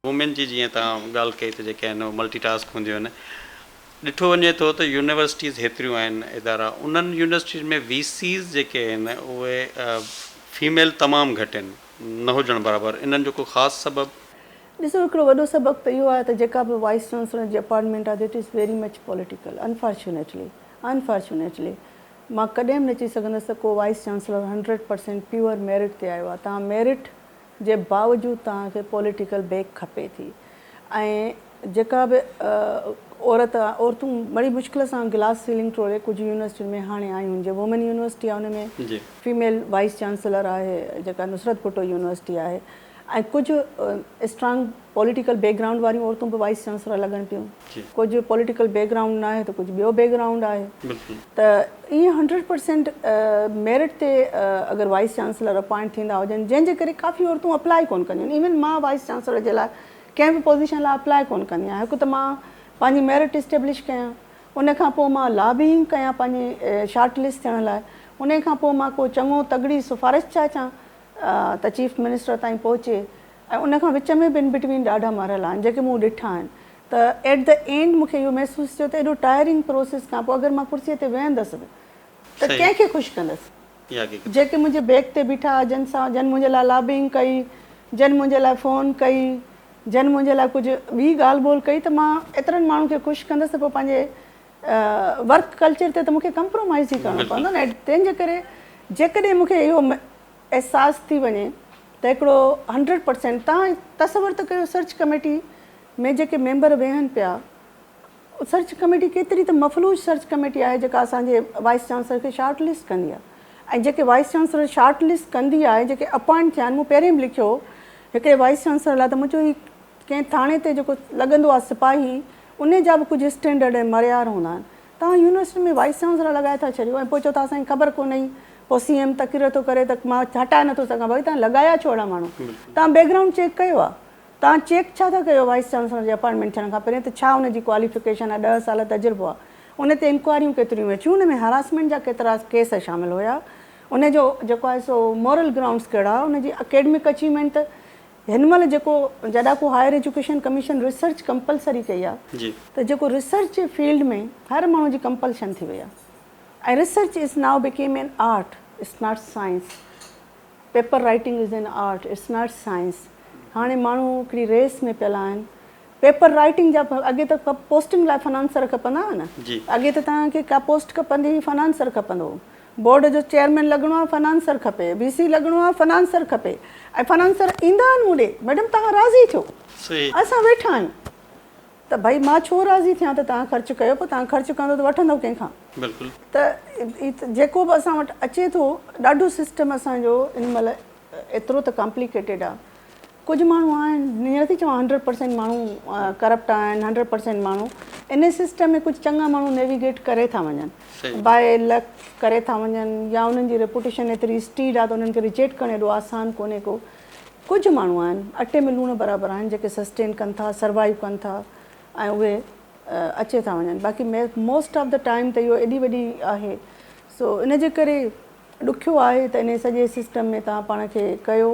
Women جي جيئن توهان ڳالهه ڪئي ته جيڪي آهن اهي ملٽي ٽاسڪ هونديون آهن. ڏٺو وڃي ٿو ته يونيورسٽيز هيتريون آهن ادارا انهن يونيورسٽيز ۾ وي سيز جيڪي آهن اهي فيميل تمام گهٽ آهن نه هجڻ برابر انهن جو ڪو خاص سبب؟ ڏسو هڪڙو وڏو سبب ته اهو آهي ته جيڪا به وائيس چانسلر جي اپائنٽمينٽ آهي it is very much political unfortunately unfortunately مان ڪڏهن به نه چئي سگهندس ته ڪو vice chancellor hundred percent pure merit تي آيو آهي. توهان ميرٽ جي باوجود توهان کي پوليٽيڪل بيڪ کپي ٿي ۽ جيڪا به عورت عورتون بڙي مشڪل سان گلاس سيلنگ ٽوڙي ڪجهه يونيورسٽين ۾ هاڻي آيون آهن جيئن وومين يونيورسٽي آهي ان ۾ فيميل وائيس چانسلر آهي جيڪا نصرت ڀٽو يونيورسٽي آهي. ۽ ڪجهه اسٽرانگ پوليٽيڪل بيڪ گرائونڊ واريون عورتون به وائيس چانسلر لڳن پيون. ڪجهه پوليٽيڪل بيڪ گرائونڊ ناهي ته ڪجهه ٻيو بيڪ گرائونڊ آهي ته ائين هنڊريڊ پرسينٽ ميرٽ تي اگر وائيس چانسلر اپوائنٽ ٿيندا هجن جنهن جي ڪري ڪافي عورتون اپلاء ئي ڪونه ڪنديون آهن ايون مان وائيس چانسلر جي لاء ڪنهن به پوزيشن لاء اپلاء ڪونه ڪندي آهيان هڪ ته مان پنهنجي ميرٽ اسٽيبلش ڪيان ان کان پوء مان لابينگ ڪيان پنهنجي شارٽ لسٽ ٿيڻ لاء انهي کان پوء مان ڪو چڱو تڳڙي سفارش چاچان ته چيف منسٽر تائين پهچي ۽ ان کان وچ ۾ به ان بٽوين ڏاڍا مرحلا آهن جيڪي مون ڏٺا آهن ته ايٽ دي اينڊ مون کي اهو محسوس ٿيو ته ايڏو ٽائرنگ پروسيس کان پوء اگر مان ڪرسي تي ويهندس به ته ڪنهن کي خوش ڪندس جيڪي منهنجي بيڪ تي بيٺا جن سان جن منهنجي لاء لابينگ ڪئي جن منهنجي لاء فون ڪئي جن منهنجي لاء ڪجهه ٻي ڳالهه ٻولهه ڪئي ته مان ايترن ماڻهن کي خوش ڪندس ته پوء پنهنجي ورڪ ڪلچر تي ته مونکي ڪمپرومائيز ئي ڪرڻو پوندو نه تنهن جي ڪري جيڪڏهن مونکي اهو احساس ٿي وڃي ته هڪڙو هنڊريڊ پرسينٽ تان تصور ته ڪيو سرچ ڪميٽي ۾ جيڪي ميمبر ويهن پيا سرچ ڪميٽي ڪيتري ته مفلوج سرچ ڪميٽي آهي جيڪا اسان جي وائيس چانسلر کي شارٽ لسٽ ڪندي آهي ۽ جيڪي وائيس چانسلر شارٽ لسٽ ڪندي آهي جيڪي اپوائنٽ ٿيا آهن مون پهرين به لکيو هو هڪڙي وائيس چانسلر لاء ته منهنجو هي ڪنهن ٿاڻي تي جيڪو لڳندو آهي سپاهي انهي جا به ڪجهه اسٽينڊرڊ ۽ معريار هوندا آهن. توهان يونيورسٽي ۾ وائيس چانسلر لڳائي ٿا ڇڏيو ۽ پوء چئو ٿا اسان کي خبر ڪونهي ئي. پوء سي ايم تقرر ٿو ڪري ته مان هٽائي نٿو سگهان. ڀائي توهان لڳايا ڇو اهڙا ماڻهو؟ توهان بيڪ گرائونڊ چيڪ ڪيو آهي؟ توهان چيڪ ڇا ٿا ڪيو وائيس چانسلر جي اپائنٽمينٽ ٿيڻ کان پهرين ته ڇا ان جي ڪواليفڪيشن آهي، ڏهه سال تجربو آهي؟ ان تي انڪوائريون ڪيتريون ويون ٿيون؟ ان ۾ هراسمينٽ جا ڪيترا ڪيس شامل هيا؟ ان جو جيڪو آهي سو مورل گرائونڊز ڪهڙا هئا؟ ان جي اڪيڊمڪ اچيومينٽ ته هن مهل جيڪو جڏاڪو higher education commission research compulsory ڪئي آ ته جيڪو ريسرچ جي فيلڊ ۾ هر ماڻهو جي ڪمپلشن ٿي وئي آ ۽ research is now become an art it's not science paper writing is an art it's not science هاڻي ماڻهو هڪڙي ريس ۾ پيل آهن پيپر رائيٽنگ جا اڳي ته پوسٽنگ لاء فنانسر کپندا هئا نه اڳي ته توهان کي ڪا پوسٽ کپندي هئي فنانسر کپندو هو بورڊ جو چيئرمين لڳڻو آهي فنانسر کپي وي سي لڳڻو آهي فنانسر کپي ۽ فنانسر ايندا آهن مون ڏي ميڊم توهان راضي ٿيو اسان ويٺا آهيون ته ڀئي مان ڇو راضي ٿيان ته توهان خرچ ڪيو پوء توهان خرچ ڪندو ته وٺندو ڪنهن کان ته جيڪو به اسان وٽ اچي ٿو ڏاڍو سسٽم اسان جو ان مهل ايترو ته ڪامپليڪيٽيڊ آهي. ڪجهه ماڻهو آهن ائين نٿي چوان هنڊريڊ پرسينٽ ماڻهو ڪرپٽ آهن هنڊريڊ پرسينٽ ماڻهو ان سسٽم ۾ ڪجهه چڱا ماڻهو نيويگيٽ ڪري ٿا وڃن باء لڪ ڪري ٿا وڃن يا انهن جي ريپوٽيشن ايتري اسٽيڊ آهي ته انهن کي ريجيٽ ڪرڻ ايڏو آسان ڪونهي ڪو ڪجهه ماڻهو آهن اٽي ۾ لوڻ برابر آهن جيڪي سسٽين ڪن ٿا سروائيو ڪن ٿا ۽ اهي اچي ٿا وڃن باقي موسٽ آف دا ٽائيم ته اهو ايڏي وڏي آهي سو ان جي ڪري ڏکيو آهي ته انهي سڄي سسٽم ۾ توهان پاڻ کي ڪيو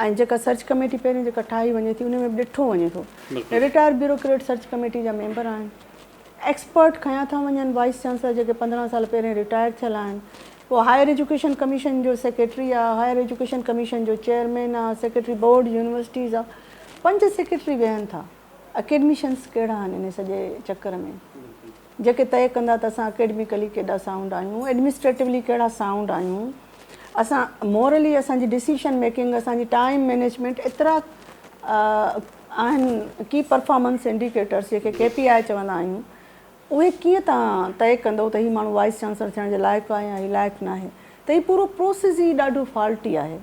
۽ جيڪا سرچ ڪميٽي پهرين جيڪا ٺاهي وڃي ٿي انهي ۾ به ڏٺو وڃي ٿو ته رٽائرڊ بيوروڪريٽ سرچ ڪميٽي جا ميمبر آهن ايڪسپرٽ کنيا ٿا وڃن وائيس چانسلر جيڪي پندرهن سال پهرين رٽائر ٿيل آهن پوء هائير ايجوڪيشن ڪميشن جو سيڪريٽري آهي هائير ايجوڪيشن ڪميشن جو چيئرمين آهي سيڪريٽري بورڊ يونيورسٽيز آهي پنج سيڪريٽري ويهن ٿا اڪيڊميشنز ڪهڙا آهن انهي سڄي چڪر ۾ جيڪي طئي ڪندا ته اسان اڪيڊميڪلي ڪيڏا سائونڊ آهيون، ايڊمنسٽريٽولي ڪهڙا سائونڊ آهيون، اسان مورلي اسان جي ڊسيشن ميڪنگ، اسان جي ٽائيم مينيجمينٽ ايترا آهن ڪي پرفارمنس انڊيڪيٽرس جيڪي ڪي پي آء چوندا آهيون اهي ڪيئن تان طئي ڪندو ته هي ماڻهو وائيس چانسلر ٿيڻ جي لائق آهي يا هي لائق ناهي ته هي پورو پروسيس ئي ڏاڍو فالٽي آهي.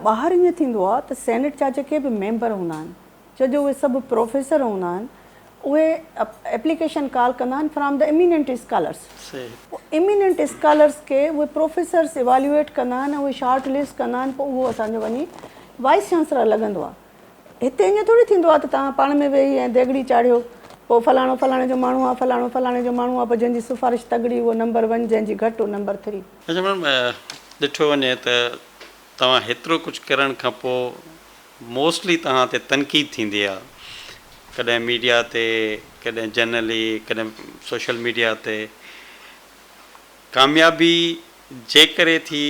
ٻاهر ائين ٿيندو آهي ته سينيٽ جا جيڪي به ميمبر هوندا آهن، ڇو جو اهي سڀ پروفيسر هوندا آهن، اهي ايپليڪيشن ڪال ڪندا آهن فرام دي ايميننٽ اسڪالرس. پوء ايميننٽ اسڪالرس کي اهي پروفيسرس ايواليوئيٽ ڪندا آهن ۽ اهي شارٽ لسٽ ڪندا آهن، پوء اهو اسان جو وڃي وائيس چانسلر لڳندو آهي. هتي ائين ٿوري ٿيندو آهي ته توهان پاڻ ۾ ويهي ۽ ديڳڙي چاڙهيو، پوء فلاڻو فلاڻي جو ماڻهو آهي، فلاڻو فلاڻي جو ماڻهو آهي، پوء جنهن جي سفارش تڳڙي اهو نمبر ون، جنهن جي گهٽ اهو نمبر ٿري. اچا ميڊم ڏٺو وڃي ته توهان هيترو ڪجهه ڪرڻ کان پو موسٽلي توهان تي تنقيد ٿيندي آ ڪڏهن ميڊيا تي ڪڏهن جنرلي ڪڏهن سوشل ميڊيا تي ڪاميابي جي ڪري ٿي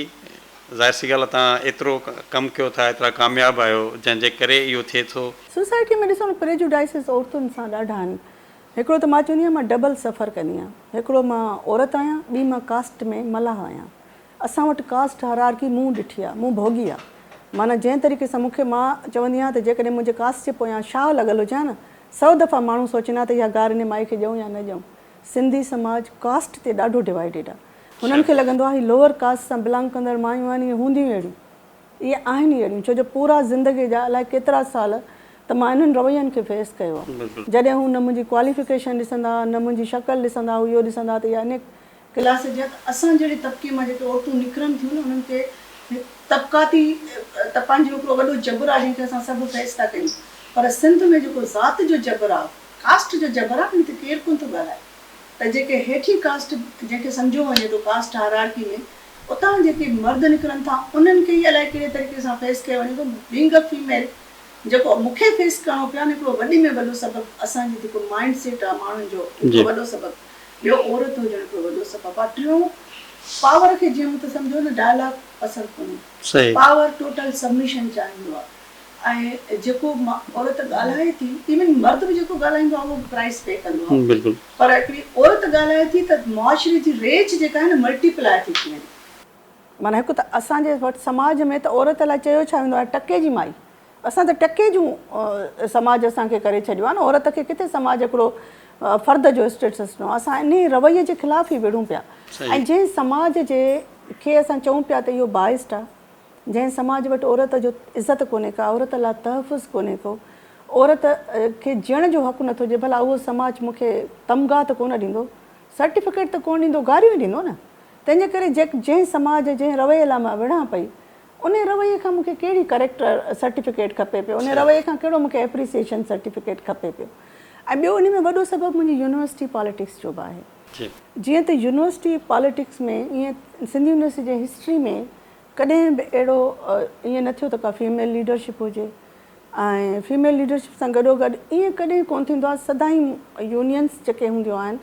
ظاهر سي ڳالهه توهان ايترو ڪم ڪيو ٿا ايترا ڪامياب آهيو جنهن جي ڪري اهو ٿئي ٿو. سوسائٽي ۾ ڏسو نه پريجوڊائسز عورتن سان ڏاڍا آهن. هڪڙو ته مان چوندي آهيان مان ڊبل سفر ڪندي آهيان هڪڙو مان عورت آهيان ٻي مان ڪاسٽ ۾ ملاح آهيان اسان وٽ ڪاسٽ هرارڪي مون ڏٺي آهي مون ڀوڳي آهي معنيٰ جنهن طريقي سان مونکي مان چوندي آهيان ته جيڪڏهن منهنجي ڪاسٽ جي پويان شاهه لڳل هجي ها نه سؤ دفعا ماڻهو سوچين ها ته اها گار انهي مائي کي ڏيون يا نه ڏيون سنڌي سماج ڪاسٽ تي ڏاڍو ڊوائيڊيڊ آهي هنن کي لڳندو آهي هي لوئر ڪاسٽ سان بلانگ ڪندڙ مايون آهن اهي هونديون اهڙيون اهي آهن ئي اهڙيون، ڇو جو پورا زندگيء جا الائي ڪيترا سال ته مان انهن روين کي فيس ڪيو آ. جڏهن هو نه منهنجي ڪواليفڪيشن ڏسندا، نه منهنجي شڪل ڏسندا، هو اهو ڏسندا ته اها انيڪ. ڪلاس جي آ ته اسان جهڙي طبقي مان جيڪي عورتون نڪرن ٿيون نه انهن کي هڪ طبقاتي تپان جو هڪڙو وڏو جبر آ جنهن کي اسان سڀ فيس ٿا ڪيون پر سنڌ ۾ جيڪو ذات جو جبر آ، ڪاسٽ جو جبر آ ان تي ڪير ڪونه ٿو ڳالهائي ته جيڪي هيٺين ڪاسٽ جنهن کي سمجهيو وڃي ٿو ڪاسٽ هائرارڪي ۾ اتان جيڪي مرد نڪرن ٿا انهن کي ئي الائي ڪهڙي طريقي سان فيس ڪيو وڃي ٿو بينگ ا فيميل جيڪو مون کي فيس ڪرڻو پيو آهي هڪڙو وڏي ۾ وڏو سبب اسان جي جيڪو مائنڊ سيٽ آهي ماڻهن جو هڪڙو وڏو سبب ٻيو عورت هجڻ هڪڙو وڏو سبب آهي ٽيون پاور کي جيئن مون ته سمجهو نه ڊائلاگ پسند ڪونهي پاور ٽوٽل سبميشن چاهيندو آهي ۽ جيڪو عورت ڳالهائي ٿي ايون مرد به جيڪو ڳالهائيندو آهي اهو به پرائس پي ڪندو آهي پر هڪڙي عورت ڳالهائي ٿي ته معاشري جي ريچ جيڪا آهي نه ملٽي پلاء ٿي ٿي وڃي. معنيٰ هڪ ته اسان جي وٽ سماج ۾ ته عورت لاء چيو ڇا ويندو آهي ٽڪي جي مائي اسان ته ٽڪي جون سماج اسان کي ڪري ڇڏيو آهي نه عورت کي ڪٿي سماج هڪڙو فرد جو اسٽيٽس ڏنو آهي اسان انهي رويي جي خلاف ئي وڙهون پيا ۽ جنهن سماج جي کي اسان چئون پيا ته اهو بائسڊ آهي جنهن سماج وٽ عورت جو عزت ڪونهي ڪا عورت لا تحفظ ڪونهي ڪو عورت کي جيئڻ جو حق نٿو ڏي ڀلا اهو سماج مون کي تمغا ته ڪونه ڏيندو سرٽيفڪيٽ ته ڪونه ڏيندو گاريون ئي ڏيندو نه تنهن جي ڪري جنهن سماج جنهن رويي لا مان وڙهان پئي انهي رويي کان مون کي ڪهڙي ڪريڪٽر سرٽيفڪيٽ کپي پيو انهي رويي کان ڪهڙو مون کي ايپريسيشن سرٽيفڪيٽ کپي پيو ۽ ٻيو انهي ۾ وڏو سبب منهنجي يونيورسٽي پاليٽڪس جو به آهي جيئن ته يونيورسٽي پاليٽڪس ۾ ائين سنڌ يونيورسٽي جي هسٽري ۾ ڪڏهن به اهڙو ائين نه ٿيو ته ڪا فيميل ليڊرشپ هجي ۽ فيميل ليڊرشپ سان گڏوگڏ ائين ڪڏهن ڪونه ٿيندو آهي سدائين يونينس جيڪي هونديون آهن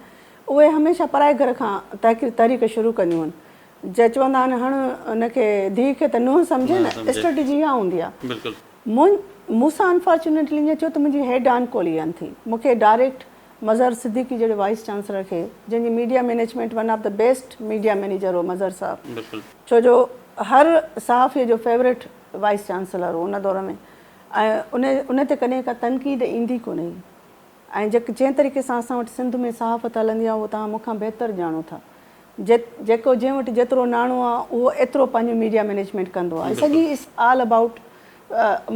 اهي هميشه پرائي گهر کان تحريڪ شروع ڪنديون آهن جي چوندا آهن هڻ ان کي ڌيء کي ته نونهن سمجهي نه اسٽريٽجي اها هوندي آهي مون سان انفارچونيٽلي ائين ٿيو ته منهنجي هيڊ آن ڪوليئن ٿي مون کي ڊائريڪٽ مظهر صديقي جهڙي وائيس چانسلر کي جنهن جي media management one of the best media manager هو مظهر صاحب ڇو جو هر صحافي جو فيوريٽ وائيس چانسلر هو ان دور ۾ ۽ ان ان تي ڪڏهن ڪا تنقيد ايندي ڪونه هئي ۽ جيڪ جنهن طريقي سان اسان وٽ سنڌ ۾ صحافت هلندي آهي اهو توهان مون کان بهتر ڄاڻو ٿا جي جيڪو جنهن وٽ جيترو ناڻو آهي اهو ايترو پنهنجو ميڊيا مينيجمينٽ ڪندو آهي سڄي اٽس آل ابائوٽ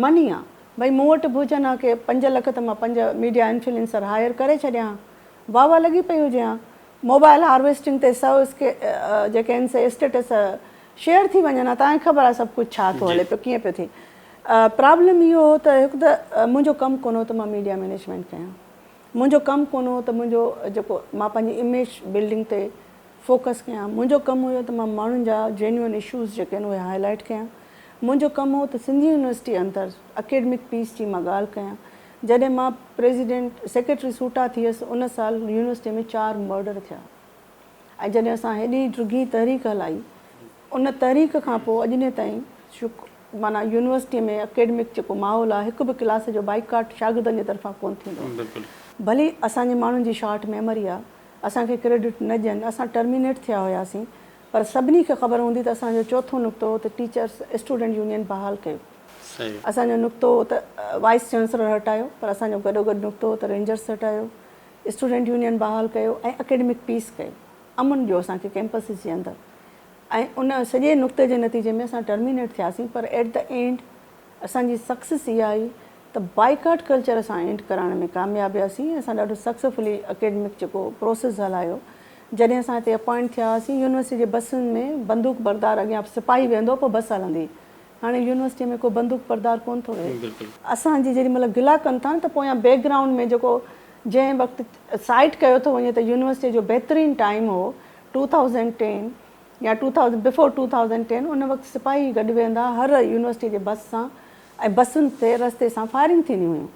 مني آهي ڀئي مون وٽ به هجن ها ڪي پنج لک ته مان پنج ميڊيا انفلينسر هائير ڪري ڇڏيان ها واهه واهه لڳي پئي هجي ها موبائل هارويسٽنگ تي سئو اسڪي جيڪي آهن سي اسٽيٽس شيئر ٿي وڃن ها تانکي خبر آهي سڀ ڪجهه ڇا ٿو هلي پيو ڪيئن پيو ٿئي پرابلم اهو هو ته هڪ ته منهنجو ڪم ڪونه هو ته مان ميڊيا مينيجمينٽ ڪيان منهنجو ڪم ڪونه هو ته منهنجو جيڪو مان پنهنجي اميج بلڊنگ تي فوڪس ڪيان. منهنجو ڪم هيو ته مان ماڻهن جا جينيون اشوز جيڪي آهن اهي هاء لائيٽ ڪيان. منهنجو ڪم هو ته سنڌ يونيورسٽي اندر اڪيڊمڪ پيس جي مان ڳالهه ڪيان. جڏهن مان پريزيڊنٽ سيڪريٽري سوٽا ٿيس ان سال يونيورسٽي ۾ چار مرڊر ٿيا ۽ جڏهن اسان هيڏي ڊگهي تحريڪ هلائي ان تحريڪ کان پوء اڄ ڏينهن تائين معنيٰ يونيورسٽي ۾ اڪيڊمڪ جيڪو ماحول آهي هڪ به ڪلاس جو بائيڪاٽ شاگردن جي طرفان ڪونه ٿيندو آهي. ڀلي اسان جي ماڻهن جي شارٽ ميموري آهي اسان کي ڪريڊٽ نه ڏين، اسان ٽرمينيٽ ٿيا هياسين پر سڀني کي خبر هوندي ته اسان جو چوٿون نقطو هو ته ٽيچرس اسٽوڊنٽ يونين بحال ڪيو. اسان جو نقطو هو ته وائيس چانسلر هٽايو پر اسان جو گڏوگڏ نقطو هو ته رينجرس هٽايو، اسٽوڊنٽ يونين بحال ڪيو ۽ اڪيڊمڪ پيس ڪيو. امن ڏيو اسان کي ڪيمپسز جي اندر ۽ ان سڄي نقطي جي نتيجي ۾ اسان ٽرمينيٽ ٿياسين پر ايٽ دي اينڊ اسان جي سڪسيس اها آهي ته بائيڪاٽ ڪلچر اسان اينڊ ڪرائڻ ۾ ڪامياب وياسين ۽ اسان ڏاڍو سڪسيفلي اڪيڊمڪ جيڪو پروسيس هلايو جڏهن اسان هتي اپوائنٽ ٿيا هئاسين يونيورسٽي جي بسن ۾ بندوق بردار اڳيان سپاهي ويهندو پوء بس هلندي هاڻي يونيورسٽي ۾ ڪو بندوق بردار ڪونه ٿو ويهي. اسان جي جيڏي مهل گلا ڪن ٿا نه ته پويان بيڪ گرائونڊ ۾ جيڪو جنهن وقت سائيٽ ڪيو ٿو وڃي ته يونيورسٽي جو بهترين ٽائيم هو ٽو ٿائوزنڊ ٽين يا two thousand before two thousand ten ان وقت سپاهي گڏ ويهندا هر يونيورسٽي جي بس سان ۽ بسن تي رستي سان فائرنگ ٿينديون هيون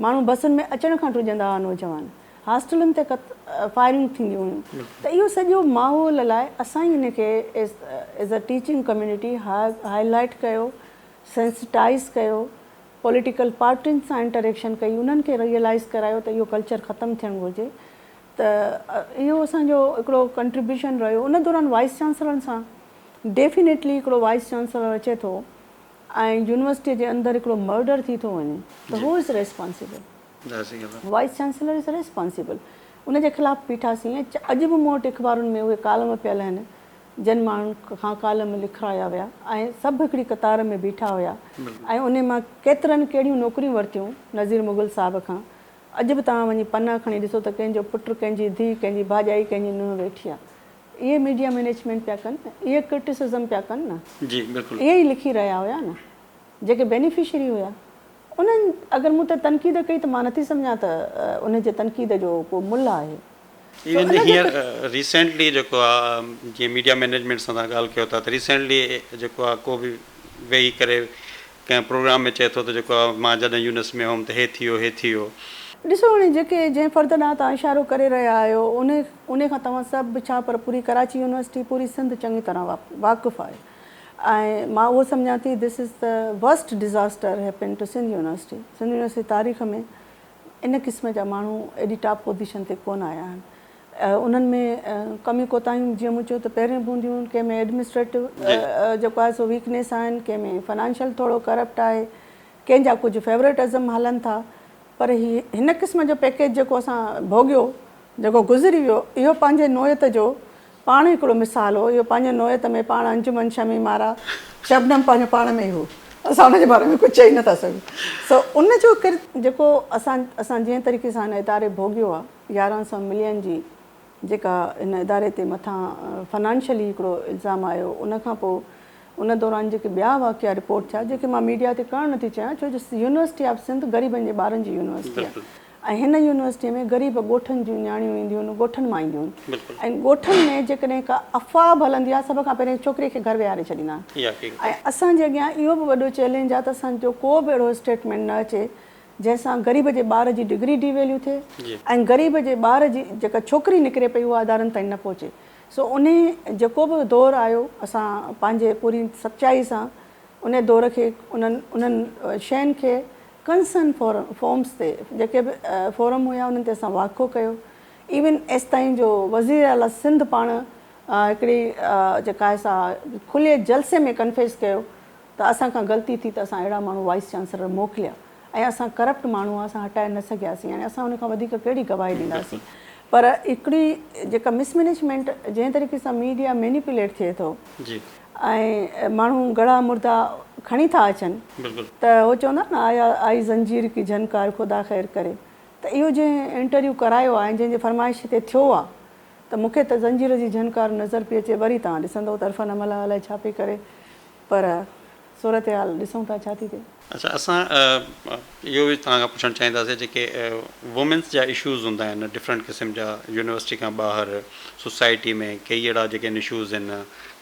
ماڻهو بسن ۾ اچڻ کان ڊڄندا ها نوجوان هاسٽلن تي ڪت فائرنگ ٿينديون هيون ته اهو سڄو ماحول لاء اسان ئي ان کي as a teaching community highlight ڪيو سينسٽائيز ڪيو پوليٽيڪل پارٽين سان انٽريڪشن ڪئي انهن کي ريئلائيز ڪرايو ته اهو ڪلچر ختم ٿيڻ گهرجي ته اهو اسان جو هڪڙو ڪنٽريبيوشن رهيو ان دوران وائيس چانسلرن سان ڊيفينيٽلي هڪڙو وائيس چانسلر اچي ٿو ۽ يونيورسٽي جي اندر هڪڙو مرڊر ٿي ٿو وڃي ته who is responsible vice chancellor is responsible ان جي خلاف بيٺاسين ۽ اڄ به مون وٽ اخبارن ۾ اهي ڪالم پيل آهن جن ماڻهن کان ڪالم لکرايا ويا ۽ سڀ هڪڙي قطار ۾ بيٺا هيا ۽ انهي مان ڪيترن ڪهڙيون نوڪريون ورتيون نظير مغل صاحب کان اڄ به توهان وڃي پنا کڻي ڏسو ته ڪنهن جو پٽ، ڪنهن جي ڌيء، ڪنهن جي ڀاڄائي، ڪنهن جي نونهن ويٺي آهي. اهي ميڊيا مئنيجمينٽ پيا ڪن نه، اهي ڪرٽيسزم پيا ڪن نه. جي بلڪل. اهي ئي لکي رهيا هيا نه جيڪي بينيفشري هيا. انهن اگر مون تي تنقيد ڪئي ته مان نٿي سمجهان ته انهن جي تنقيد جو ڪو ملهه آهي. ايون ته هينئر ريسينٽلي جيڪو آ جيئن ميڊيا مينيجمينٽ سان تهان ڳالهه ڪيو ٿا ته ريسينٽلي جيڪو آ ڪو به ويهي ڪري ڪنهن پروگرام ۾ چئي ٿو ته جيڪو آ مان جڏهن يونس ۾ هوم ته هي ٿي ويو هي ٿي ويو. ڏسو هاڻي جيڪي جنهن فرد ڏانهن تهان اشارو ڪري رهيا آهيو انهي انهي کان توهان سڀ به ڇا پر پوري ڪراچي يونيورسٽي پوري سنڌ چڱي طرح واقف آهي ۽ مان اهو سمجهان ٿي ڌس از ته worst disaster happened to Sindh university Sindh university تاريخ ۾ ان قسم جا ماڻهو ايڏي ٽاپ پوزيشن تي ڪونه آيا آهن. انهن ۾ ڪميون ڪوتاهيون جيئن مون چيو ته پهريون به هونديون، ڪنهن ۾ ايڊمنسٽريٽو جيڪو آهي سو ويڪنيس آهن، ڪنهن ۾ فنانشل ٿورو ڪرپٽ آهي، ڪنهن جا ڪجهه فيوريٽ ازم هلن ٿا، پر هي هن قسم جو پيڪيج جيڪو اسان ڀوڳيو، جيڪو گذري ويو، اهو پنهنجي نوعيت جو پاڻ هڪڙو مثال هو. اهو پنهنجي نوعيت ۾ پاڻ انجمن شميم مارا. شبنم پنهنجو پاڻ ۾ ئي هو. اسان ان جي باري ۾ ڪجهه چئي نه ٿا سگهون. سو ان جو ڪرت. جيڪو اسان اسان جنهن طريقي سان هن اداري ڀوڳيو آهي، يارهن سئو ملين جي جيڪا هن اداري تي مٿان فنانشلي هڪڙو الزام آيو، ان کان پوء ان دوران جيڪي ٻيا واقعا رپورٽ ٿيا، جيڪي مان ميڊيا تي ڪرڻ نه ٿي چاهيان، ڇو جو يونيورسٽي آف سنڌ غريبن جي ٻارن جي يونيورسٽي آهي. ۽ هن يونيورسٽيء ۾ غريب ڳوٺن جون نياڻيون اينديون آهن، ڳوٺن مان اينديون آهن ۽ ڳوٺن ۾ جيڪڏهن ڪا افواهه به هلندي آهي، سڀ کان پهرين ڇوڪريء کي گهر ويهاري ڇڏيندا آهن ۽ اسان جي اڳيان اهو به وڏو چئلينج آهي ته اسان جو ڪو به اهڙو اسٽيٽمينٽ نه اچي، جنهن سان غريب جي ٻار جي ڊگري ڊي ويليو ٿئي ۽ غريب جي ٻار جي جيڪا ڇوڪري نڪري پئي اها ادارن تائين نه پهچي. سو انهيء جيڪو به دور آيو، اسان پنهنجي پوري سچائيء سان انهيء دور کي انهن انهن شين کي ڪنسرن فورمز تي جيڪي به فورم هيا انهن تي اسان واقعو ڪيو ايون ايستائين جو وزير اعليٰ سنڌ پاڻ هڪڙي جيڪا آهي سا کلي جلسي ۾ ڪنفيس ڪيو ته اسان کان غلطي ٿي ته اسان اهڙا ماڻهو وائيس چانسلر موڪليا ۽ اسان ڪرپٽ ماڻهو اسان هٽائي نه سگهياسين يعني اسان ان کان وڌيڪ ڪهڙي گواهي ڏينداسين پر هڪڙي جيڪا مس مينيجمينٽ جنهن طريقي سان ميڊيا مينيپوليٽ ٿئي ٿو. ۽ ماڻهو گڙا مردا کڻي ٿا اچن ته هو چوندا آهن نه آيا آئي زنجير ڪي جهنڪار خدا خير ڪري ته اهو جنهن انٽرويو ڪرايو آهي ۽ جنهن جي فرمائش تي ٿيو آهي ته مون کي ته زنجير جي جهنڪار نظر پئي اچي وري توهان ڏسندئو ته عرفان املهه الائي ڇا پئي ڪري پر صورتحال ڏسون ٿا ڇا ٿي ٿئي. اچا اسان اهو به توهان کان پڇڻ چاهينداسين جيڪي وومينس جا اشوز هوندا آهن ڊفرنٽ قسم جا يونيورسٽي کان ٻاهر سوسائٽي ۾ ڪيئي اهڙا جيڪي ان اشوز هن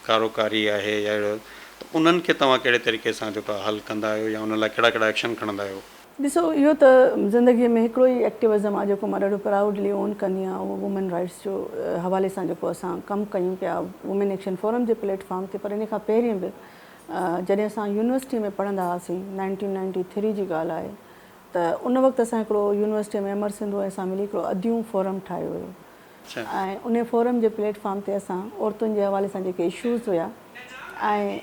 ڪارو ڪاري آهي يا اهڙو ته انهن کي توهان ڪهڙي طريقي سان جيڪو آهي حل ڪندا آهيو يا ان لاء ڪهڙا ڪهڙا ايڪشن کڻندا آهيو. ڏسو اهو ته زندگي ۾ هڪڙو ئي ايڪٽيوزم آهي جيڪو مان ڏاڍو پرائوڊلي اون ڪندي آهيان اهو وومين رائيٽس جو حوالي سان جيڪو اسان ڪم ڪيون پيا وومين ايڪشن فورم جي پليٽ فارم تي پر ان کان پهرين به جڏهن اسان يونيورسٽي ۾ پڙهندا هئاسين، نائنٽين نائنٽي ٿري جي ڳالهه آهي، ته ان وقت اسان هڪڙو يونيورسٽي ۾ امر سنڌو ۽ اسان ملي هڪڙو اديون فورم ٺاهيو هيو ۽ انهي فورم جي پليٽ فارم تي اسان عورتن جي حوالي سان جيڪي اشوز هيا ۽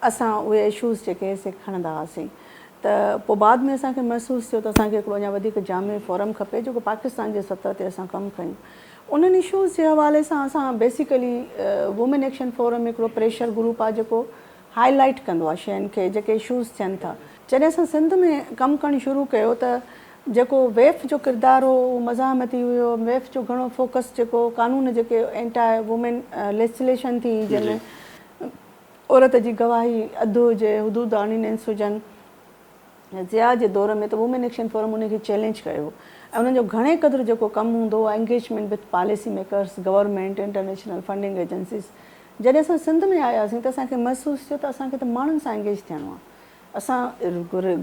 اسان اهي اشوز جيڪي هي سي کڻندا هئاسين ته پوء بعد ۾ اسان کي محسوس ٿيو ته اسان کي هڪڙو اڃا وڌيڪ جامع فورم کپي جيڪو پاڪستان جي سطح تي اسان ڪم ڪيون. انهن اشوز جي حوالي سان اسان بيسيڪلي وومين ايڪشن فورم هڪڙو پريشر گروپ آهي جيڪو هائي لائيٽ ڪندو آهي شين کي جيڪي اشوز ٿين ٿا جڏهن اسان سنڌ ۾ ڪم ڪرڻ شروع ڪيو ته جيڪو ويف جو ڪردار هو اهو مزاحمتي هيو ويف جو گهڻو فوڪس جيڪو قانون جيڪي اينٽا وومين ليسجليشن ٿي جنهن ۾ عورت جي گواهي اڌ هجي حدود آرڊيننس هجن ضياء جي دور ۾ ته وومين ايڪشن فورم انهن کي چئلينج ڪيو ۽ انهن جو گهڻي قدر جيڪو ڪم هوندو هو engagement with policy makers, government, international funding agencies. جڏهن اسان سنڌ ۾ آياسين ته اسان کي محسوس ٿيو ته اسان کي ته ماڻهن سان انگيج ٿيڻو آهي. اسان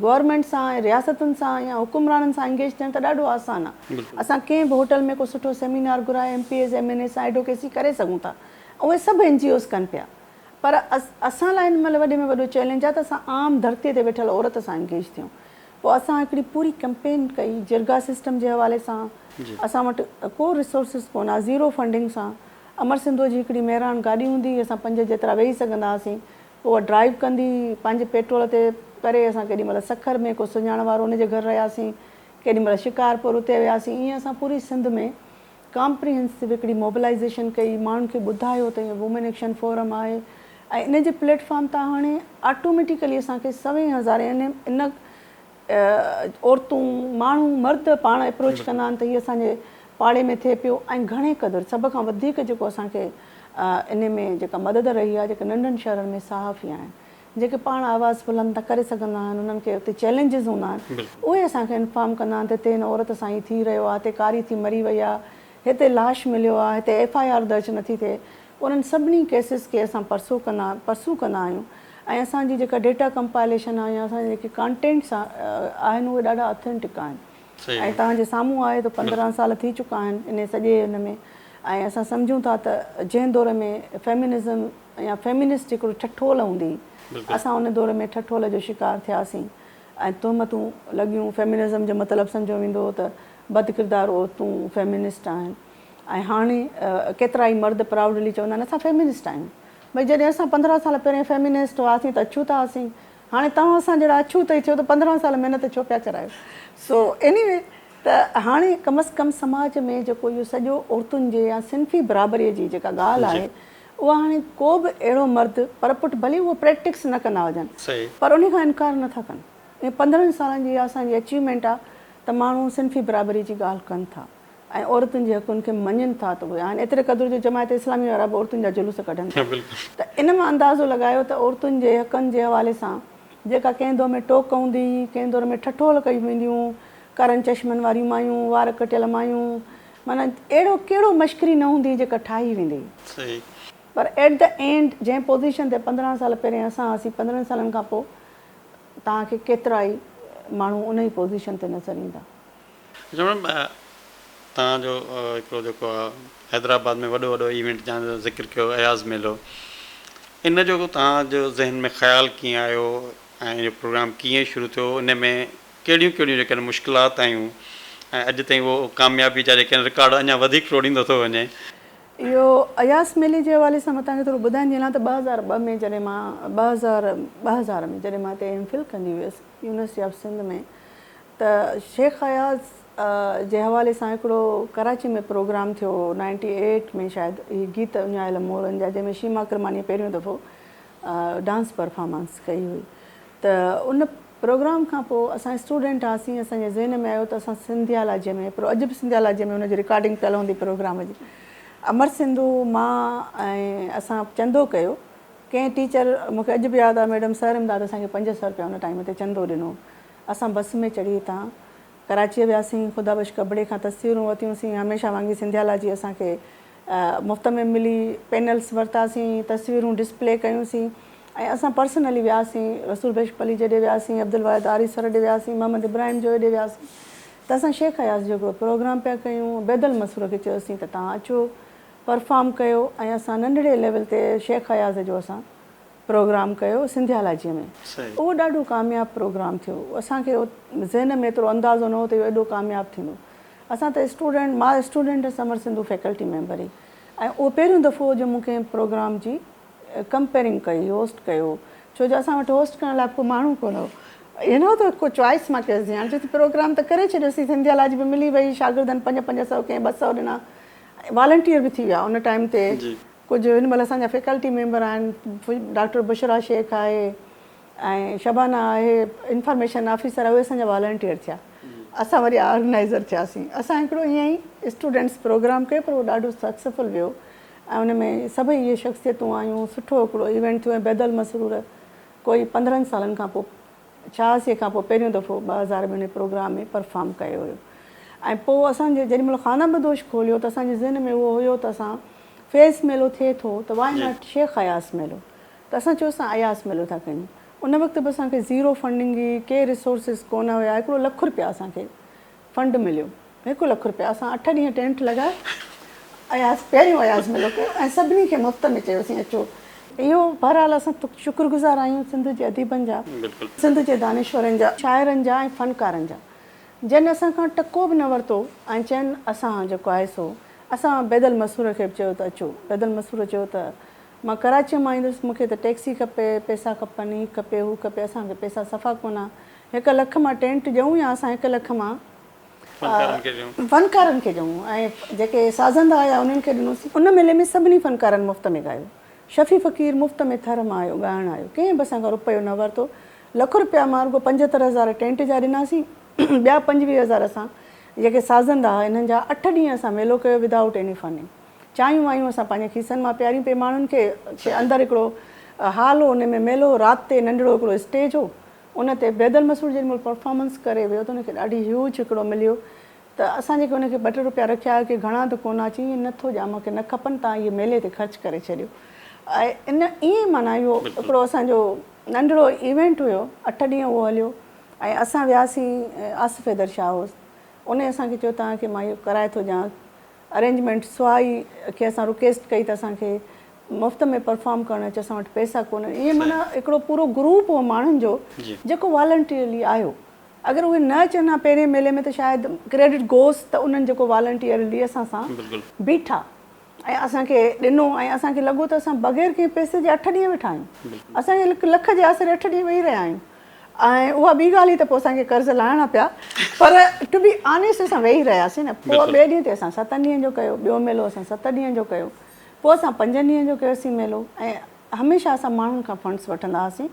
گورنمينٽ سان ۽ رياستن سان يا حڪمرانن سان انگيج ٿيڻ ته ڏاڍو آسان آهي. اسان ڪنهن به هوٽل ۾ ڪو سٺو سيمينار گهرائي M P As, M N A سان ايڊوڪيسي ڪري سگهون ٿا ۽ اهي سڀ اين جي اوز ڪن پيا. پر اسان لاء هن مهل وڏي ۾ وڏو چئلينج آهي ته اسان عام ڌرتي تي ويٺل عورت سان انگيج ٿيون. پوء اسان هڪڙي پوري ڪئمپين ڪئي، جرڳا سسٽم جي حوالي سان اسان وٽ ڪو ريسورسز ڪونه ها، زيرو فنڊنگ سان، امر سنڌوء جي هڪڙي مهراڻ گاڏي هوندي هئي، اسان پنج جيترا ويهي سگهندا هئاسين، پوء اها ڊرائيو ڪندي هئي، پنهنجي پيٽرول تي ڪري اسان ڪيڏي مهل سکر ۾ ڪو سڃاڻ وارو ان جي گهر رهياسين، ڪيڏي مهل شڪارپور اتي وياسين، ائين اسان پوري سنڌ ۾ ڪامپريهنسو هڪڙي موبلائيزيشن ڪئي، ماڻهن کي ٻڌايو ته هيء وومين ايڪشن فورم آهي ۽ ان جي پليٽ فارم تان هاڻي آٽوميٽيڪلي اسان کي سوين هزار يعني ان عورتون، ماڻهو، مرد پاڻ اپروچ ڪندا آهن ته هيء اسان جي پاڙي ۾ ٿئي پيو ۽ گهڻي قدر سڀ کان وڌيڪ جيڪو اسان کي انهي ۾ جيڪا مدد رهي آهي جيڪا ننڍن شهرن ۾ صحافي آهن جيڪي پاڻ آواز بلند نه ڪري سگهندا آهن انهن کي اتي چئلينجز هوندا آهن اهي اسان کي انفارم ڪندا آهن ته هتي هن عورت سان هي ٿي رهيو آهي هتي ڪاري ٿي مري وئي آهي هتي لاش مليو آهي هتي ايف آء آر درج نٿي ٿئي انهن سڀني ڪيسز کي اسان پرسو ڪندا پرسو ڪندا آهيون ۽ اسان جي جيڪا ڊيٽا ڪمپائليشن آهي يا اسان جا جيڪي ڪانٽينٽس آهن اهي ڏاڍا اٿينٽڪ آهن ۽ توهان جي سامهون آهي ته پندرهن سال ٿي چڪا آهن انهي سڄي ان ۾ ۽ اسان سمجهون ٿا ته جنهن دور ۾ فيمنزم يا فيمنسٽ هڪڙو ٺٺول هوندي اسان ان دور ۾ ٺٺول جو شڪار ٿياسين ۽ تهمتون لڳيون فيمنزم جو مطلب سمجهيو ويندو هو ته بد ڪردار عورتون فيمنسٽ آهن ۽ هاڻي ڪيترائي مرد پرائوڊلي چوندا آهن اسان فيمنسٽ آهيون ڀئي جڏهن اسان پندرهن سال پهرين فيمنسٽ هئاسين ته اڇوتا هئاسين هاڻي توهان اسان جهڙا اڇوت ئي ٿيو ته پندرهن سال محنت ڇو پيا ڪرايو سو ايني وي ته هاڻي ڪم از ڪم سماج ۾ جيڪو اهو سڄو عورتن جي يا صنفي برابري جي جيڪا ڳالهه آهي اهو هاڻي ڪو به اهڙو مرد پرپٺ ڀلي اهو پريڪٽڪس نه ڪندا هجن پر انهي کان انڪار نه ٿا ڪن اهي پندرهن سالن جي اها اسان جي اچيومينٽ آ ته ماڻهو صنفي برابري جي ڳالهه ڪن ٿا ۽ عورتن جي حقن کي مڃين ٿا ته اهي آهن ايتري قدر جو جماعت اسلامي وارا به عورتن جا جلوس ڪڍن ٿا ته ان مان اندازو لڳايو ته عورتن جي حقن جي حوالي سان جيڪا ڪنهن دور ۾ ٽوڪ هوندي هئي ڪنهن دور ۾ ٺٺول ڪيون وينديون هون ڪارن چشمن واريون مايون وار ڪٽيل مايون معنيٰ اهڙو ڪهڙو مشڪري نه هوندي جيڪا ٺاهي ويندي هئي. صحيح. پر ايٽ دي اينڊ جنهن پوزيشن تي پندرهن سال پهرين اسان هئاسين پندرهن سالن کان پوء توهان کي ڪيترا ئي ماڻهو ان ئي پوزيشن تي نظر ايندا. اچا ميڊم توهان جو هڪڙو جيڪو آ حيدرآباد ۾ وڏو وڏو ايونٽ جنهن جو ذڪر ڪيو اياز ميلو ان جو توهان جو ذهن ۾ خيال ڪيئن آيو ۽ اهو پروگرام ڪيئن شروع ٿيو ان ۾ ڪهڙيون ڪهڙيون جيڪي آهن مشڪلات آيون ۽ اڄ تائين اهو ڪاميابي جا جيڪي آهن رڪارڊ اڃا وڌيڪ ٽوڙيندو ٿو وڃي. اهو اياز ميلي جي حوالي سان مان توهان کي ٿورو ٻڌائڻ جي لاء ته ٻه هزار ٻه ۾ جڏهن مان ٻه هزار ٻه هزار ۾ جڏهن مان هتي ايم فل ڪندي هيس يونيورسٽي آف سنڌ ۾ ته شيخ اياز جي حوالي سان هڪڙو ڪراچي ۾ پروگرام ٿيو هو نائنٽي ايٽ ۾ شايد هي گيت اڃايل مورن جا جنهن ۾ شيما ڪرمانيء پهريون دفعو ڊانس پرفارمنس ڪئي هئي ته ان پروگرام کان پوء اسان اسٽوڊنٽ هئاسين اسان جي ذهن ۾ آيو ته اسان سنڌيالاجي ۾ پر اڄ به سنڌيالاجي ۾ ان جي رڪارڊنگ پيل هوندي پروگرام جي امر سنڌو مان ۽ اسان چندو ڪيو ڪنهن ٽيچر مون کي اڄ به ياد آهي ميڊم سر امداد اسان کي پنج سئو رپيا ان ٽائيم تي چندو ڏنو اسان بس ۾ چڙهي هتان ڪراچيء وياسين خدا بخش ڪٻڙي کان تصويرون ورتيون سين هميشه وانگي سنڌيالاجي اسان کي مفت ۾ ملي، پينلز ورتاسين، تصويرون ڊسپلي ڪيون سين ۽ اسان پرسنلي وياسين، رسول بخش پليجي ڏي وياسين، عبدالواحد آريسر ڏي وياسين، محمد ابراهيم جويي ڏي وياسين ته اسان شيخ اياز جو هڪڙو پروگرام پيا ڪيون، عبيدالمسرور کي چيوسين ته توهان اچو پرفارم ڪيو ۽ اسان ننڍڙي ليول تي شيخ اياز جو اسان پروگرام ڪيو سنڌيالاجيء ۾. اهو ڏاڍو ڪامياب پروگرام ٿيو. اسان کي ذهن ۾ ايترو اندازو نه هو ته اهو ايڏو ڪامياب ٿيندو. اسان ته اسٽوڊنٽ، مان اسٽوڊنٽ هيس امر سنڌو فيڪلٽي ميمبر هئي ۽ اهو پهريون دفعو هو جو مون ڪنهن پروگرام جي ڪمپيئرنگ ڪئي، هوسٽ ڪيو هو. ڇو جو اسان وٽ هوسٽ ڪرڻ لاء به ڪو ماڻهو ڪونه هو. ائين نه هو ته ڪو چوائس مان ڪيوسين. هاڻي چوسين پروگرام ته ڪري ڇڏيوسين، سنڌيالاجي به ملي وئي، شاگردن پنج پنج سئو ڪنهن ٻه سئو ڏنا، والنٽيئر به ٿي ويا ان ٽائيم تي. ڪجهه هن مهل اسان جا فيڪلٽي ميمبر آهن، ڊاڪٽر بشريٰ شيخ آهي ۽ شبانه آهي انفارميشن آفيسر آهي اهي اسان جا والنٽيئر ٿيا اسان وري آرگنائيزر ٿياسين اسان هڪڙو ائين ئي اسٽوڊنٽس پروگرام ڪيو پر اهو ڏاڍو سڪسفل ويو ۽ ان ۾ سڀئي اهي شخصيتون آيون سٺو هڪڙو ايونٽ ٿيو ۽ بيدل مسرور ڪوئي پندرهن سالن کان پوء ڇهاسي کان پوء پهريون دفعو ٻه هزار ۾ ان پروگرام ۾ پرفارم ڪيو هيو ۽ پوء اسان جي جيڏي مهل خانه بدوش کوليو ته اسان جي ذهن ۾ اهو هيو ته اسان فيض ميلو ٿئي ٿو ته وائي ناٽ شيخ اياز ميلو ته اسان چيو اسان اياز ميلو ٿا ڪيون ان وقت به اسان کي زيرو فنڊنگ هئي ڪي ريسورسز ڪونه هيا هڪڙو لک رپيا اسان کي فنڊ مليو هڪ لک رپيا اسان اٺ ڏينهن ٽينٽ لڳايو اياز پهريون اياز ميلو ڪيو ۽ سڀني کي مفت ۾ چيوسين اچو اهو بهرحال اسان شڪر گذار آهيون سنڌ جي اديبن جا سنڌ جي دانشورن جا شاعرن جا ۽ فنڪارن جا جن اسان کان ٽڪو به نه ورتو ۽ چين اسان جيڪو آهي سو اسان بيد المسرور کي به چيو ته اچو. بيد المسرور چيو ته مان ڪراچيء مان ايندس، مون کي ته ٽيڪسي کپي، پئسا کپن، هي کپي، هو کپي، اسان کي پئسا صفا ڪونه. هڪ لک مان ٽينٽ ڏيون يا اسان هڪ لک مان فنڪارن کي ڏيون ۽ جيڪي سازندا آيا انهن کي ڏنوسين. ان ميلي ۾ سڀني فنڪارن مفت ۾ ڳايو. شفيع فقير مفت ۾ ٿر مان آيو، ڳائڻ آيو. ڪنهن به اسان کان رپيو نه ورتو. لک رپيا مان رڳو پنجهتر هزار ٽينٽ جا ڏناسين، ٻيا پنجويهه هزار اسان جيڪي سازن رها انهن جا اٺ ڏينهن اسان ميلو ڪيو وڌ آئوٽ ايني فنڊنگ چانهيون وانهيون اسان پنهنجي کيسن مان پياريون پئي ماڻهن کي کي اندر هڪڙو هال هو ان ۾ ميلو هو رات تي ننڍڙو هڪڙو اسٽيج هو ان تي بيدل مسعود جيڏي مهل پرفارمنس ڪري ويو ته ان کي ڏاڍي هيوج هڪڙو مليو ته اسان جيڪي ان کي ٻه ٽي رپيا رکيا هيا کي گهڻا ته ڪونه چي ائين نه ٿو ڄان مون کي نه کپن تان اهي ميلي تي خرچ ڪري ڇڏيو ۽ ان ائين معنيٰ اهو هڪڙو اسان جو ننڍڙو ايونٽ هيو اٺ ڏينهن اهو هليو. ۽ اسان وياسين آصف حيدر شاهه هوس انهي اسان کي چيو توهان کي مان اهو ڪرائي ٿو ڏيان ارينجمينٽ سواء ئي کي اسان رڪيسٽ ڪئي ته اسان کي مفت ۾ پرفارم ڪرڻ اچ اسان وٽ پئسا ڪونهن ائين معنيٰ هڪڙو پورو گروپ هو ماڻهن جو جيڪو والنٽيئرلي آيو اگر اهي نه اچن ها پهرين ميلي ۾ ته شايد ڪريڊٽ گوس ته انهن جيڪو والنٽيئرلي اسان سان بيٺا. ۽ اسان کي ڏنو ۽ اسان کي لڳو ته اسان بغير ڪنهن پئسي جي اٺ ڏينهن ويٺا آهيون. اسان کي هڪ لک جي آسري اٺ ڏينهن ويهي رهيا آهيون ۽ اها ٻي ڳالهه هئي ته پوء اسان کي قرض لاهڻا پيا پر ٽو بي آنيسٽ اسان ويهي رهياسين نه پوء ٻئي ڏينهن تي اسان ستن ڏينهن جو ڪيو ٻيو ميلو اسان ست ڏينهن جو ڪيو پوء اسان پنجن ڏينهن جو ڪيوسين ميلو ۽ هميشه اسان ماڻهن کان فنڊس وٺندا هئاسين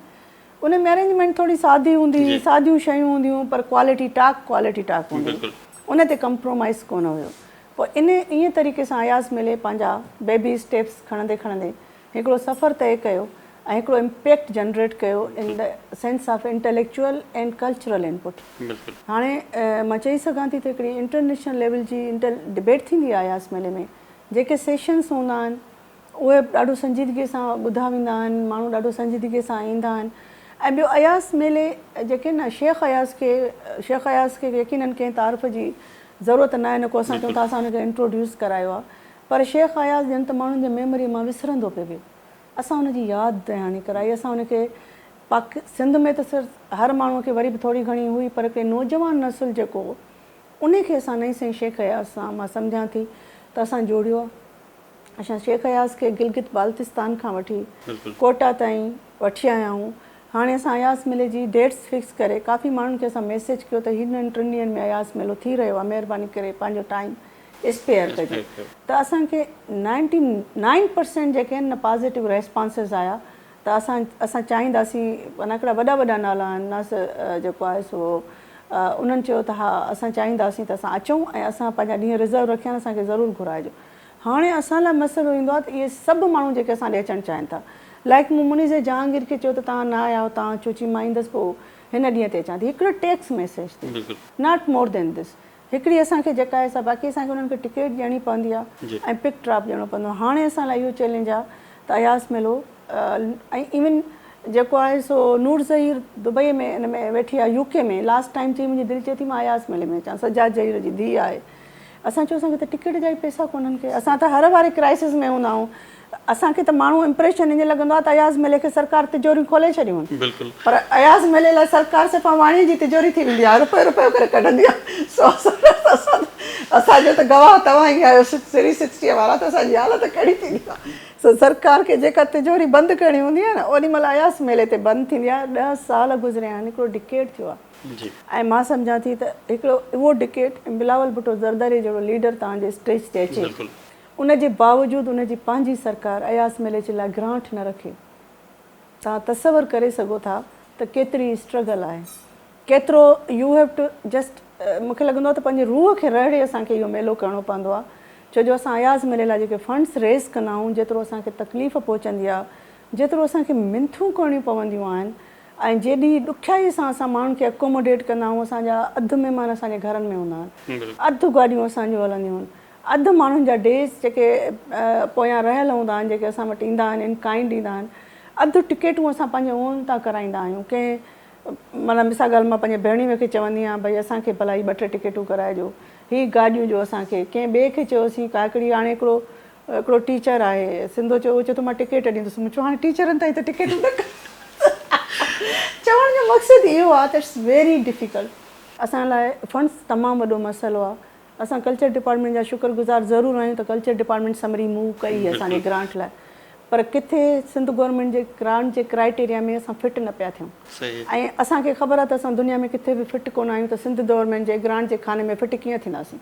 ان ۾ ارينجمينٽ ٿوري سادي هوندي هئي ساديون شيون هونديون پر ڪوالٽي ٽاڪ ڪوالٽي ٽاڪ هوندي هئي ان تي ڪمپرومائيز ڪونه هيو پوء انهي ائين طريقي سان اياز ملي پنهنجا بيبي اسٽيپس کڻندي کڻندي هڪڙو سفر طئي ڪيو ۽ هڪڙو امپيڪٽ جنريٽ ڪيو in the sense of intellectual and cultural input. هاڻي مان چئي سگهان ٿي ته هڪڙي انٽرنيشنل ليول جي انٽيل ڊبيٽ ٿيندي آهي اياز ميلي ۾ جيڪي سيشنس هوندا آهن، اهي ڏاڍو سنجيدگي سان ٻڌا ويندا آهن، ماڻهو ڏاڍو سنجيدگي سان ايندا آهن ۽ ٻيو اياز ميلي جيڪي آهن نه شيخ اياز کي شيخ اياز کي يقينن ڪنهن تعارف جي ضرورت ناهي نه ڪو اسان چئون ٿا اسان ان کي انٽروڊيوس ڪرايو آهي پر شيخ اياز ڄڻ ته ماڻهن جي ميموري مان وسرندو پئي ويو اسان ان جي ياد دهاڻي ڪرائي اسان ان کي پاڪ سنڌ ۾ ته سر هر ماڻهو کي وري به ٿوري گهڻي هئي پر ڪي نوجوان نسل جيڪو هو ان کي اسان نئين سائين شيخ اياز سان مان سمجهان ٿي ته اسان جوڙيو آهي. اسان شيخ اياز کي گلگت بالتستان کان وٺي ڪوئٽا تائين وٺي آيا آهيون. هاڻي اسان اياز ميلي جي ڊيٽس فڪس ڪري ڪافي ماڻهن کي اسان ميسيج ڪيو ته هنن ٽن ڏينهن ۾ اياز ميلو ٿي رهيو آهي مهرباني ڪري پنهنجو ٽائيم اسپيئر ڪجو ته اسان کي نائنٽي نائن پرسينٽ جيڪي آهن نه پازيٽو ريسپانسز آيا ته اسان اسان چاهينداسين معنيٰ هڪڙا وڏا وڏا نالا آهن ناصر جيڪو آهي سو انهن چيو ته ها اسان چاهينداسين ته اسان اچون ۽ اسان پنهنجا ڏينهن رزرو رکيا آهن اسان کي ضرور گهرائجو. هاڻي اسان لاء مسئلو ايندو آهي ته اهي سڀ ماڻهو جيڪي اسان ڏي اچڻ چاهين ٿا. لائق مون منير زئي جهانگير کي چيو ته توهان نه آيا آهيو، توهان اچو چي مان ايندس پوء هن ڏينهن تي اچان ٿي. هڪڙو ٽيڪس ميسيج تي. Not more than this. هڪڙي اسان کي جيڪا آهي سا باقي اسان کي انهن کي ٽڪيٽ ڏيڻي پوندي آهي ۽ پڪ ڊراپ ڏيڻو پوندو آهي. هاڻي اسان لاء اهو چئلينج آهي ته اياز ميلو ۽ ايون جيڪو آهي سو نور زهير دبئي ۾ ان ۾ ويٺي آهي يو ڪي ۾ لاسٽ ٽائيم چئي منهنجي دل چئي ٿي مان اياز ميلي ۾ اچان سجاد زهير جي ڌيء آهي. اسان چيو اسان کي ته ٽڪيٽ جا ئي پئسا ڪونهن ڪي اسان ته هر واري ڪرائسس ۾ هوندا آهون اسان کي ته ماڻهو امپريشن ائين لڳندو آهي ته اياز ملي کي سرڪار تجوريون کولي ڇڏيون آهن پر اياز ملي لاء سرڪار صرف اواڻيء جي تجوري ٿي ويندي آهي رپيو رپيو ڪري ڪڍندي آهي سو اسان اسان جو ته گواهه توهان ئي آهيو سري سڪسٽيء وارا ته اسان جي حالت ڪهڙي ٿيندي آهي سو سرڪار کي جيڪا تجوري بند ڪرڻي هوندي آهي نه اونهي مهل اياز ملي تي بند ٿيندي آهي ڏهه سال گذريا آهن هڪڙو ڊڪيڊ ٿيو آهي. جي. ۽ مان سمجهان ٿي ته هڪڙو اهو ڊڪيٽ ۽ بلاول ڀٽو زرداري جهڙو ليڊر توهان جي اسٽيج تي اچي بلڪل. ان جي باوجود ان جي پنهنجي سرڪار اياز مليچ لاء گرانٽ نه رکي توهان تصور ڪري سگهو ٿا ته ڪيتري اسٽرگل آهي ڪيترو يو هيو ٽو جسٽ مون کي لڳندو آهي ته پنهنجي روح کي رهڙي اسان کي اهو ميلو ڪرڻو پوندو آهي ڇو جو اسان اياز ملي لاء جيڪي فنڊس ريز ڪندا آهيون جيترو اسان کي تڪليف پهچندي آهي جيترو اسان کي منٿون ڪرڻيون پونديون آهن ۽ جيڏي ڏکيائي سان اسان ماڻهن کي اڪوموڊيٽ ڪندا آهيون اسان جا اڌ مهمان اسان جي گهرن ۾ هوندا آهن اڌ گاڏيون اسان جون هلنديون آهن اڌ ماڻهن جا ڊيز جيڪي پويان رهيل هوندا آهن جيڪي اسان وٽ ايندا آهن ان ڪائنڊ ايندا آهن اڌ ٽڪيٽون اسان پنهنجي اون تان ڪرائيندا آهيون ڪنهن معنيٰ مثال ڳالهه مان پنهنجي ڀيڻوي کي چوندي آهيان ڀئي اسان کي ڀلا هي ٻه ٽي ٽڪيٽون ڪرائي ڏيو هي گاڏيون ڏيو اسان کي ڪنهن ٻئي کي چيوسين ڪا هڪڙي هاڻي هڪڙو هڪڙو ٽيچر آهي سنڌو چيو هو چيو ٿو مان ٽڪيٽ ڏيندس مون چيو هاڻي ٽيچرن تائين ته ٽڪيٽون نه ڪن چوڻ جو مقصد اهو آهي ته اٽس ويري ڊفيڪلٽ. اسان لاء فنڊز تمام وڏو مسئلو آهي اسان ڪلچر ڊپارٽمينٽ جا شڪر گذار ضرور آهيون ته ڪلچر ڊپارٽمينٽ سمري موو ڪئي اسان جي گرانٽ لاء پر ڪٿي سنڌ گورنمينٽ جي گرانٽ جي ڪرائيٽيريا ۾ اسان فٽ نه پيا ٿيون ۽ اسان کي خبر آهي ته اسان دنيا ۾ ڪٿي به فٽ ڪونه آهيون ته سنڌ دورمينٽ جي گرانٽ جي خاني ۾ فٽ ڪيئن ٿينداسين.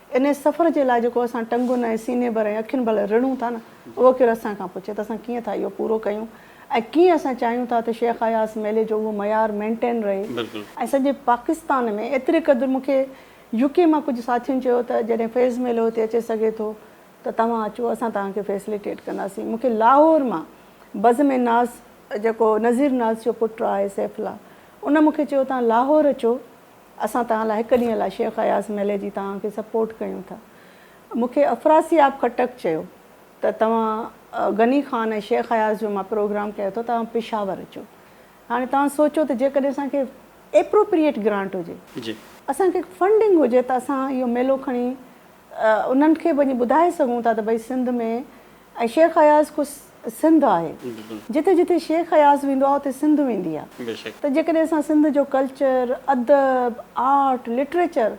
انهيء سفر جي لاء جيڪو اسان ٽنگن ۽ سيني ڀر ۽ اکين ڀر لاء رڙون ٿا نه، اهو ڪير اسان کان پڇي ته اسان ڪيئن ٿا اهو پورو ڪيون ۽ ڪيئن اسان چاهيون ٿا ته شيخ اياز ميلي جو اهو معيار مينٽين رهي ۽ سڄي پاڪستان ۾ ايتري قدر مون کي يو ڪي مان ڪجهه ساٿين چيو ته جڏهن فيض ميلو هتي اچي سگهي ٿو ته توهان اچو اسان توهان کي فيسليٽيٽ ڪنداسين مون کي لاهور مان بزم ناز جيڪو نذير ناز جو پٽ آهي سيف الله ان مون کي چيو توهان لاهور اچو اسان توهان لاء هڪ ڏينهن لاء شيخ اياز ميلي جي توهان کي سپورٽ ڪيون ٿا. مون کي افراسياب خٽڪ چيو ته توهان غني خان ۽ شيخ اياز جو مان پروگرام ڪيو اٿو توهان پشاور اچو. هاڻي توهان سوچو ته جيڪڏهن اسان کي ايپروپريئيٽ گرانٽ هجي. اسان کي فنڊنگ هجي ته اسان اهو ميلو کڻي انهن کي وڃي ٻڌائي سگهون ٿا ته ڀئي سنڌ ۾ ۽ شيخ اياز خود سنڌ آهي جتي جتي شيخ اياز ويندو آهي اتي سنڌ ويندي آهي ته جيڪڏهن اسان سنڌ جو ڪلچر، ادب، آرٽ، لٽريچر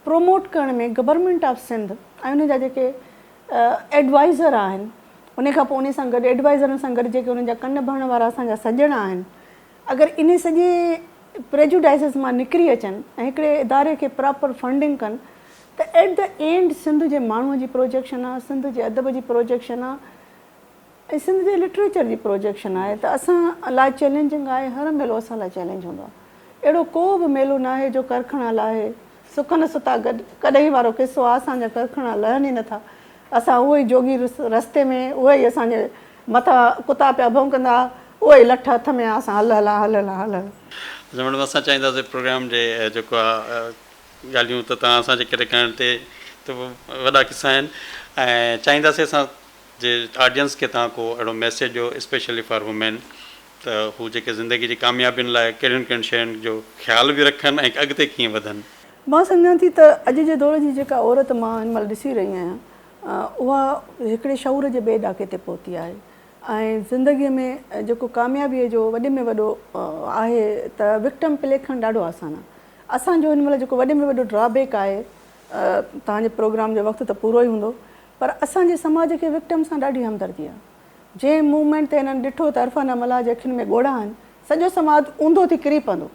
پروموٽ ڪرڻ ۾ گورنمينٽ آف سنڌ ۽ ان جا جيڪي ايڊوائيزر آهن ان کان پوء ان سان گڏ ايڊوائيزرن سان گڏ جيڪي ان جا ڪن ڀرڻ وارا اسان جا سڄڻ آهن اگر انهي سڄي پريجوڊائسز مان نڪري اچن ۽ هڪڙي اداري کي پراپر فنڊنگ ڪن ته ايٽ دي اينڊ سنڌ جي ماڻهو جي پروجيڪشن آهي، سنڌ جي ادب جي پروجيڪشن آهي ۽ سنڌ جي لٽريچر جي پروجيڪشن آهي ته اسان لاء چئلينجنگ آهي، هر ميلو اسان لاء چئلينج هوندو آهي. اهڙو ڪو به ميلو ناهي جو ڪرکڻا لاهي. سڪن ستا گڏ ڪڏهن وارو قصو آهي اسان جا ڪرکڻا لهن ئي نٿا. اسان اهو ئي جوڳي رستي ۾، اهي ئي اسان جي مٿان ڪتا پيا ڀونڪندا، اهي ئي لٺ هٿ ۾ آ اسان هل هلان، هل هلان، هل هلان. اسان ميڊم اسان چاهينداسين پروگرام جي جيڪو آ ڳالهيون ته توهان اسان جي ڪري ڪرڻ تي ته وڏا قصا آهن ۽ چاهينداسين اسان جي آڊينس کي توهان ڪو اهڙو ميسيج ڏيو اسپيشلي فار وومين ته هو جيڪي زندگي جي ڪاميابين لاء ڪهڙين ڪهڙين شين جو خيال به رکن ۽ اڳتي ڪيئن وڌن. مان سمجهان ٿي ته اڄ جي دور جي جيڪا عورت مان هن مهل ڏسي رهي آهيان اها هڪڙي شعور جي ٻئي ڏاڪي تي پهتي آهي ۽ زندگي ۾ جيڪو ڪاميابي جو وڏي ۾ وڏو آهي ته وڪٽم پلي کڻڻ ڏاڍو آسان آهي اسان جو هن مهل جيڪو وڏي ۾ وڏو ڊرا بيڪ آهي توهان جي پروگرام جو وقت ته پورو ئي هوندو پر اسان جي سماج کي وڪٽم سان ڏاڍي همدردي آهي جنهن موومينٽ تي هنن ڏٺو ته عرفانه ملاح جي اکين ۾ ڳوڙها آهن سڄو سماج اونڌو ٿي ڪري پوندو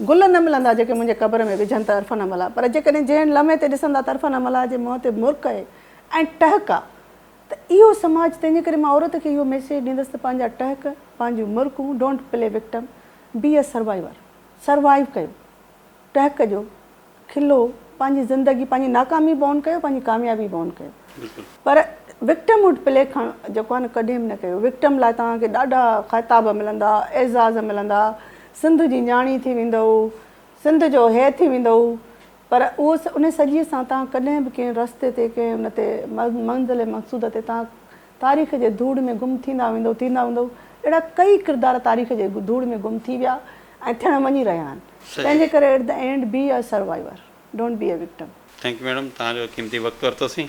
گل نه ملندا جيڪي منهنجي قبر ۾ وجهن ته عرفان املا پر جيڪڏهن جنهن لمحي تي ڏسندا ته عرفان املا جي منهن تي مرڪ ۽ ٽهڪ آ ته اهو سماج تنهنجي ڪري مان عورت کي اهو ميسيج ڏيندس ته پنهنجا ٽهڪ پنهنجون مرڪون don't play victim be a survivor survive ڪيو ٽهڪ جو کلو پنهنجي زندگي پنهنجي ناڪامي بئون ڪيو پنهنجي ڪاميابي بئون ڪيو پر وڪٽم هوڊ پلي کڻ جيڪو آهي نه ڪڏهن به نه ڪيو وڪٽم لاء توهان کي ڏاڍا خطاب ملندا اعزاز ملندا سنڌ جي نياڻي ٿي ويندؤ سنڌ جو هي ٿي ويندؤ پر اهو ان سڄي سان توهان ڪڏهن به ڪنهن رستي تي ڪنهن ان تي منزل مقصود تي توهان تاريخ جي ڌوڙ ۾ گم ٿيندا ويندؤ ٿيندا ويندؤ اهڙا ڪئي ڪردار تاريخ جي ڌوڙ ۾ گم ٿي ويا ۽ ٿيڻ وڃي رهيا آهن تنهنجي ڪري at the end be a survivor don't be a victim. Thank you madam توهان جو قيمتي وقت ورتو سين.